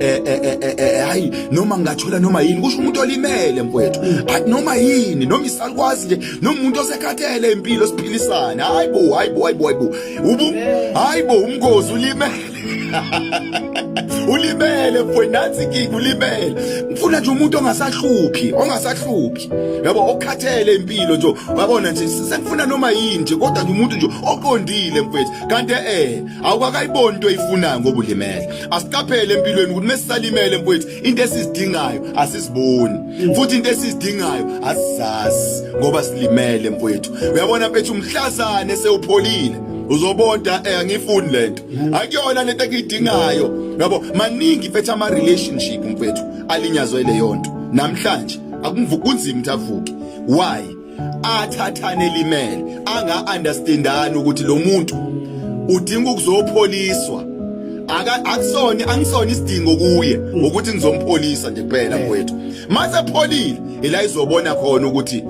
eh, eh, eh, hayi noma ngingathola noma yini kusho umuntu olimele mfowethu noma yini noma isalukwazi nje noma umuntu osekhathele impilo siphilisane hayi bo hayi bo hayi bo hayi bo ubu hayi bo umngozi ulimele ulimele mfowethu nathi kiki ulimele ngifuna nje umuntu ongasahluphi ongasahluphi yabo okhathele impilo nje wabona nje sengifuna noma yini nje kodwa nje umuntu nje oqondile mfowethu kanti eh awukakayiboni into oyifunayo ngoba ulimele asiqaphele empilweni ukuthi mesisalimele mfowethu into esizidingayo asiziboni futhi into esizidingayo asizazi ngoba silimele mfowethu uyabona mfethu umhlazane sewupholile uzobonda eh angifuni lento akuyona lento engiyidingayo yabo maningi mfethu ama relationship mfethu alinyazwe leyo nto namhlanje akunzima ukuthi avuke why athathane elimele anga understandani ukuthi lo muntu udinga ukuzopholiswa aka akusona angisona isidingo kuye mm. ukuthi ngizompholisa nje kuphela eh. mfowethu mase pholile ila izobona khona ukuthi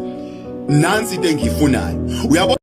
nansi into engiyifunayo uyabo